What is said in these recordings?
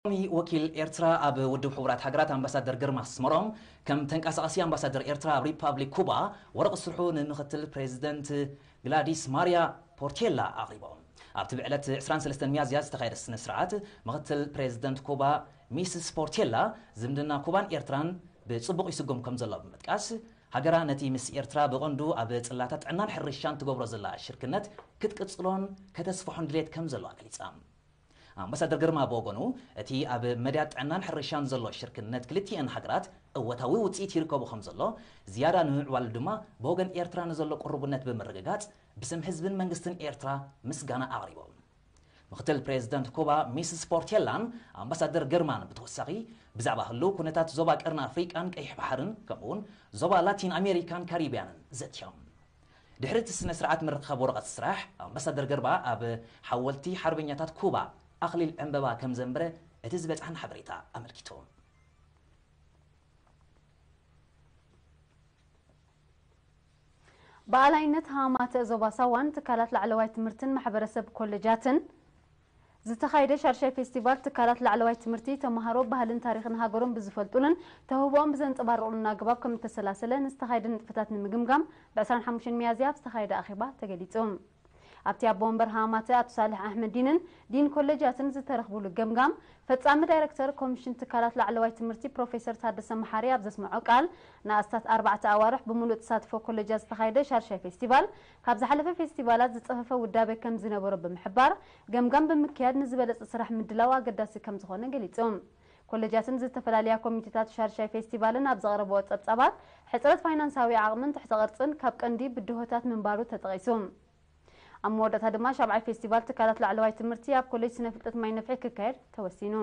ቀዋሚ ወኪል ኤርትራ ኣብ ውድብ ሕቡራት ሃገራት ኣምባሳደር ግርማ ኣስመሮም፣ ከም ተንቀሳቓሲ ኣምባሳደር ኤርትራ ኣብ ሪፓብሊክ ኩባ፣ ወረቕት ስርሑ ንምክትል ፕረዚደንት ግላዲስ ማርያ ፖርቴላ ኣቕሪቦም። ኣብቲ ብዕለት ዕስራን ሰለስተን ሚያዝያ ዝተኻየደ ስነ-ስርዓት፣ ምክትል ፕረዚደንት ኩባ ሚስስ ፖርቴላ፣ ዝምድና ኩባን ኤርትራን ብጽቡቕ ይስጉም ከምዘሎ ብምጥቃስ፣ ሃገራ ነቲ ምስ ኤርትራ ብቐንዱ ኣብ ጽላታት ጥዕናን ሕርሻን ትገብሮ ዘላ ሽርክነት ክትቅጽሎን ከተስፍሖን ድሌት ከምዘለዋ ገሊጻ። ኣምባሳደር ግርማ ብወገኑ፣ እቲ ኣብ መዳያት ጥዕናን ሕርሻን ዘሎ ሽርክነት ክልቲኤን ሃገራት እወታዊ ውጽኢት ይርከቦ ከምዘሎ፣ ዝያዳ ንምምዕባሉ ድማ ብወገን ኤርትራ ንዘሎ ቅሩብነት ብምርግጋጽ ብስም ህዝብን መንግስትን ኤርትራ ምስጋና ኣቕሪቦም። ምክትል ፕሬዝደንት ኩባ ሚስስ ፖርቴላን ኣምባሳደር ግርማን ብተወሳኺ ብዛዕባ ህልው ኩነታት ዞባ ቀርኒ ኣፍሪቃን ቀይሕ ባሕርን ከምኡ'ውን ዞባ ላቲን ኣሜሪካን ካሪብያንን ዘትዮም። ድሕሪ እቲ ስነ-ስርዓት ምርኻብ ወረቐት ስራሕ፣ ኣምባሳደር ገርባ ኣብ ሓወልቲ ሓርበኛታት ኩባ ኣኽሊል ዕምበባ ከም ዘንበረ እቲ ዝበጽሓና ሓበሬታ ኣመልኪቱ። ብኣላይነት ሃማተ ዞባ ሳዋን ትካላት ላዕለዋይ ትምህርትን ማሕበረሰብ ኮለጃትን፣ ዝተኻየደ ሻድሻይ ፌስቲቫል ትካላት ላዕለዋይ ትምህርቲ ተምሃሮ ባህልን ታሪኽን ሃገሮም ብዝፈልጡሉን ተውህቦኦም ብዘንፀባርቑሉን ኣገባብ ከምእተሰላሰለ ንዝተኻየደ ንጥፈታት ንምግምጋም ብ ዕስራን ሓሙሽተን ሚያዝያ ኣብ ዝተኻየደ ኣኼባ ተገሊፁ። ኣብቲ ኣቦ ወንበር ሃማማተ ኣቶ ሳልሕ ኣሕመዲንን ዲን ኮሌጃትን ዝተረኽቡሉ ገምጋም ፈፃሚ ዳይሬክተር ኮሚሽን ትካላት ላዕለዋይ ትምህርቲ ፕሮፌሰር ታደሰ መሓሪ ኣብ ዘስመዖ ቃል ንኣስታት ኣርባዕተ ኣዋርሕ ብሙሉእ ተሳትፎ ኮሌጃት ዝተኻየደ ሻድሻይ ፌስቲቫል ካብ ዝሓለፈ ፌስቲቫላት ዝጸፈፈ ውዳበ ከም ዝነበሮ ብምሕባር፣ ገምጋም ብምክያድ ንዝበለጸ ስራሕ ምድላው ኣገዳሲ ከም ዝኾነ ገሊጾም። ኮለጃትን ዝተፈላለያ ኮሚቴታት ሻድሻይ ፌስቲቫልን ኣብ ዘቕረበኦ ጸብጻባት፣ ሕጽረት ፋይናንሳዊ ዓቕምን ትሕተ ቅርጽን ካብ ቀንዲ ብድሆታት ምንባሩ ተጠቒሱ። ኣብ መወዳእታ ድማ ሻብዓይ ፌስቲቫል ትካላት ላዕለዋይ ትምህርቲ ኣብ ኮሌጅ ስነ ፍልጠት ማይ ነፍሒ ክካየድ ተወሲኑ።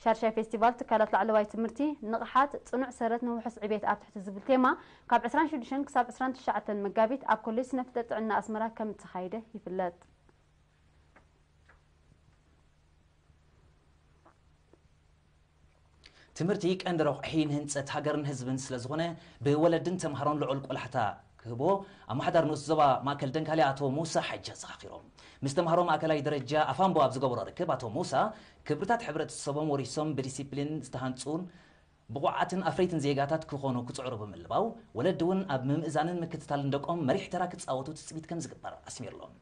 ሻድሻይ ፌስቲቫል ትካላት ላዕለዋይ ትምህርቲ፣ ንቕሓት፣ ጽኑዕ ሰረት ንውሑስ ዕቤት ኣብ ትሕቲ ዝብል ቴማ ካብ ዕስራን ሽዱሽተን ክሳብ ዕስራን ትሽዓተን መጋቢት ኣብ ኮሌጅ ስነፍልጠት ጥዕና ኣስመራ ከም እተኻየደ ይፍለጥ። ትምህርቲ ቀንዲ ረቑሒ ንህንጸት ሃገርን ህዝብን ስለ ዝኾነ ብወለድን ተምሃሮን ልዑል ቆላሕታ ክህቦ ኣማሓዳሪ ንኡስ ዞባ ማእከል ደንካልያ ኣቶ ሙሳ ሓጂ ኣዘኻኺሮም። ምስ ተምሃሮ ማእከላይ ደረጃ ኣፋምቦ ኣብ ዝገበሮ ርክብ ኣቶ ሙሳ፣ ክብርታት ሕብረተሰቦም ወሪሶም ብዲሲፕሊን ዝተሃንጹን ብቑዓትን ኣፍረይትን ዜጋታት ክኾኑ ክጽዕሩ ብምልባው፣ ወለዲ'ውን ኣብ ምምእዛንን ምክትታልን ደቆም መሪሕ ተራ ክጻወቱ ትጽቢት ከምዝግበር ኣስሚርሎም።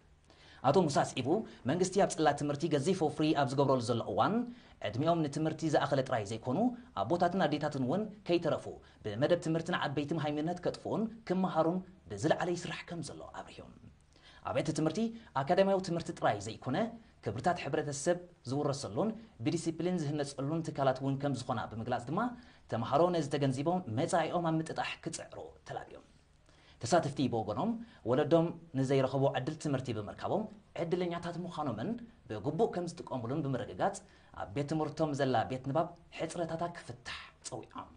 ኣቶ ሙሳ ኣስዒቡ፣ መንግስቲ ኣብ ጽላት ትምህርቲ ገዚፍ ወፍሪ ኣብ ዝገብረሉ ዘሎ እዋን፣ ዕድሚኦም ንትምህርቲ ዝኣኸለ ጥራይ ዘይኮኑ ኣቦታትን ኣዴታትን'ውን ከይተረፉ ብመደብ ትምህርቲ ንዓበይቲ መሃይምነት ከጥፍኡን ክመሃሩን ብዝለዓለ ይስራሕ ከምዘሎ ኣብሪሁ። ኣብያተ ትምህርቲ ኣካዳሚያዊ ትምህርቲ ጥራይ ዘይኮነ፣ ክብርታት ሕብረተሰብ ዝውረሰሉን ብዲሲፕሊን ዝህነጸሉን ትካላት እውን ከም ዝኾና ብምግላጽ ድማ፣ ተመሃሮ ነዚ ተገንዚቦም መጻኢኦም ኣብ ምጥጣሕ ክጽዕሩ ተላብዮም። ተሳተፍቲ ብወገኖም፣ ወለዶም ንዘይረኸቡ ዕድል ትምህርቲ ብምርካቦም ዕድለኛታት ምዃኖምን ብግቡእ ከም ዝጥቀሙሉን ብምርግጋጽ፣ ኣብ ቤት ትምህርቶም ዘላ ቤት ንባብ ሕጽረታታ ክፍታሕ ጸዊዖም።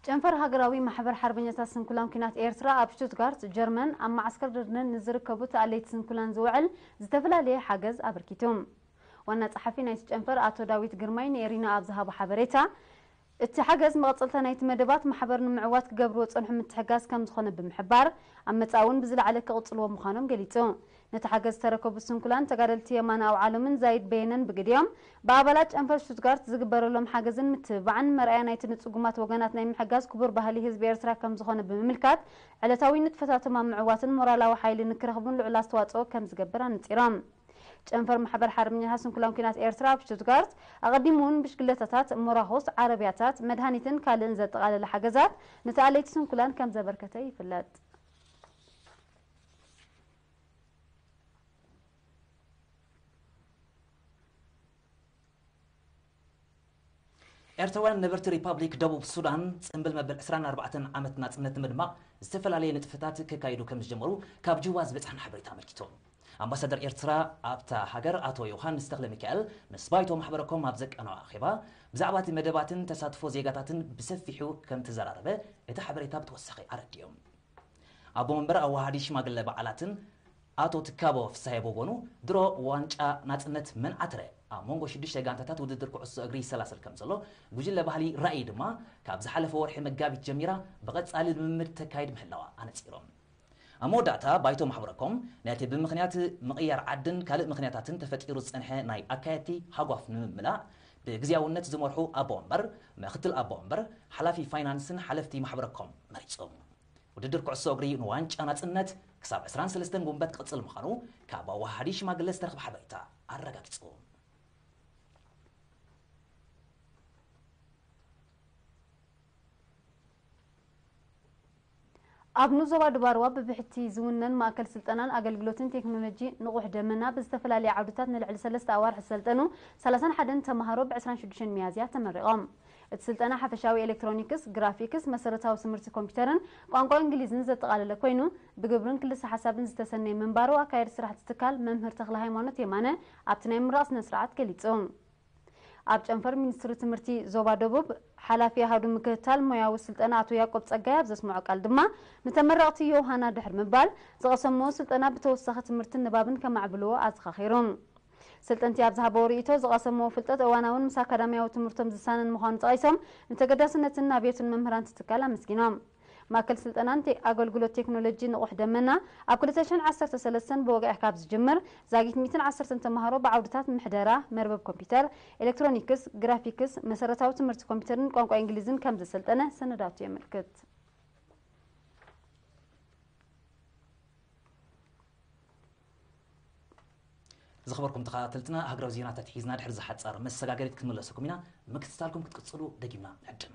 ጨንፈር ሃገራዊ ማሕበር ሓርበኛታት ስንኩላን ኲናት ኤርትራ ኣብ ሽቱትጋርት ጀርመን ኣብ መዓስከር ድርድነን ንዝርከቡ ተኣለይቲ ስንኩላን ዝውዕል ዝተፈላለየ ሓገዝ ኣበርኪቱ። ዋና ጸሓፊ ናይቲ ጨንፈር ኣቶ ዳዊት ግርማይ ንኤሪና ኣብ ዝሃቦ ሓበሬታ፣ እቲ ሓገዝ መቐጸልታ ናይቲ መደባት ማሕበር ንምዕዋት ክገብርዎ ዝጸንሑ ምትሕግጋዝ ከም ዝኾነ ብምሕባር፣ ኣብ መጻኢ'ውን ብዝለዓለ ክቕጽልዎ ምዃኖም ገሊጹ። ነቲ ሓገዝ ዝተረከቡ ስንኩላን ተጋደልቲ የማነ ኣውዓሎምን ዛይድ በየነን ብግዲኦም፣ ብኣባላት ጨንፈር ሽቱትጋርት ዝግበረሎም ሓገዝን ምትብባዕን መርኣያ ናይቲ ንጽጉማት ወገናት ናይ ምሕጋዝ ክቡር ባህሊ ህዝቢ ኤርትራ ከም ዝኾነ ብምምልካት፣ ዕለታዊ ንጥፈታቶም ኣብ ምዕዋትን ሞራላዊ ሓይሊ ንክረኽቡን ልዑል ኣስተዋጽኦ ከም ዝገብር ኣነጺሮም። ጨንፈር ማሕበር ሓርበኛታት ስንኩላን ኲናት ኤርትራ ኣብ ሽቱትጋርት፣ ኣቐዲሙ'ውን ብሽግለታታት፣ ሞራኹስ፣ ዓረብያታት፣ መድሃኒትን ካልእን ዘጠቓለለ ሓገዛት ንተኣለይቲ ስንኩላን ከም ዘበርከተ ይፍለጥ። ኤርትራውያን ነበርቲ ሪፓብሊክ ደቡብ ሱዳን ጽምብል መበል ዕስራን ኣርባዕተን ዓመት ናጽነት ንምድማቕ ዝተፈላለየ ንጥፈታት ከካይዱ ከምዝጀመሩ ካብ ጁባ ዝበጽሓና ሓበሬታ ኣመልኪቱ። ኣምባሳደር ኤርትራ ኣብታ ሃገር ኣቶ ዮውሃንስ ተኽለሚካኤል ምስ ባይቶ ማሕበረ ኮም ኣብ ዘቃነዖ ኣኼባ ብዛዕባ'ቲ መደባትን ተሳትፎ ዜጋታትን ብሰፊሑ ከምተዘራረበ እቲ ሓበሬታ ብተወሳኺ ኣረዲኡ። ኣቦ መንበር ኣዋሃሃዲ ሽማግለ በዓላትን ኣቶ ትካቦ ፍስሃየ ብወገኑ፣ ድሮ ዋንጫ ናጽነት መን ዓተረ? ኣብ መንጎ ሽዱሽተ ጋንታታት ውድድር ኩዕሶ እግሪ ይሰላሰል ከምዘሎ፣ ጉጅለ ባህሊ ራእይ ድማ ካብ ዝሓለፈ ወርሒ መጋቢት ጀሚራ ብቐጻሊ ልምምድ ተካይድ ምህላዋ ኣነጺሮም። ኣብ መወዳእታ ባይቶ ማሕበረኮም፣ ነቲ ብምኽንያት ምቕያር ዓድን ካልእ ምኽንያታትን ተፈጢሩ ዝጸንሐ ናይ ኣካየድቲ ሃጓፍ ንምምላእ፣ ብግዝያውነት ዝመርሑ ኣቦ ወንበር፣ ምክትል ኣቦ ወንበር፣ ሓላፊ ፋይናንስን ሓለፍቲ ማሕበረኮም መሪጹ። ውድድር ኩዕሶ እግሪ ንዋንጫ ናጽነት ክሳብ ዕስራን ሰለስተን ጉንበት ክቕጽል ምዃኑ ካብ ኣወሃሃዲ ሽማግለ ዝተረኽበ ሓበሬታ ኣረጋጊጹ። ኣብ ን ዞባ ዱባርዋ ብብሕቲ ዝውነን ማእከል ስልጠናን ኣገልግሎትን ቴክኖሎጂ ንቑሕ ደመና ብዝተፈላለየ ዓውድታት ንልዕሊ ሰለስተ ኣዋርሕ ዝሰልጠኑ ሰላሳን ሓደን ተመሃሮ ብ ዕስራን ሽዱሽተን ሚያዝያ ተመሪቖም። እቲ ስልጠና ሓፈሻዊ ኤሌክትሮኒክስ፣ ግራፊክስ፣ መሰረታዊ ትምህርቲ ኮምፒተርን ቋንቋ እንግሊዝን ዘጠቓለለ ኮይኑ፣ ብግብርን ክልሰ ሓሳብን ዝተሰነየ ምንባሩ ኣካያዲ ስራሕ እቲ ትካል መምህር ተኽለሃይማኖት የማነ ኣብቲ ናይ ምምራቕ ስነ ስርዓት ገሊፁ። ኣብ ጨንፈር ሚኒስትሪ ትምህርቲ ዞባ ደቡብ ሓላፊ ኣሃዱ ምክትታል ሞያዊ ስልጠና ኣቶ ያቆብ ፀጋይ ኣብ ዘስመዖ ቃል ድማ ንተመረቕቲ ዮውሃና ድሕሪ ምባል ዝቐሰምዎ ስልጠና ብተወሳኺ ትምህርትን ንባብን ከማዕብልዎ ኣዘኻኺሩ። ስልጠንቲ ኣብ ዝሃበዎ ርኢቶ፣ ዝቐሰምዎ ፍልጠት እዋናውን ምስ ኣካዳሚያዊ ትምህርቶም ዝሳነን ምዃኑ ጠቒሶም፣ ንተገዳስነትን ኣብዮትን መምህራን እቲ ትካል ኣመስጊኖም። ማእከል ስልጠናን ኣገልግሎት ቴክኖሎጂ ንቑሕ ደመና፣ ኣብ ክልተ ሽሕን ዓሰርተ ሰለስተን ብወግዒ ካብ ዝጅምር፣ ዛጊት ሚእትን ዓሰርተን ተማሃሮ ብዓውድታት ምሕደራ፣ መርበብ ኮምፒተር፣ ኤለክትሮኒክስ፣ ግራፊክስ፣ መሰረታዊ ትምህርቲ ኮምፒተርን ቋንቋ ኢንግሊዝን ከም ዘሰልጠነ ሰነዳቱ የመልክት። ዝኸበርኩም ተኸታተልትና ሃገራዊ ዜናታት ሒዝና ድሕሪ ዝሓጸር መሰጋገሪት ክንምለሰኩም ኢና። ምክትታልኩም ክትቅጽሉ ደጊምና ንዕድም።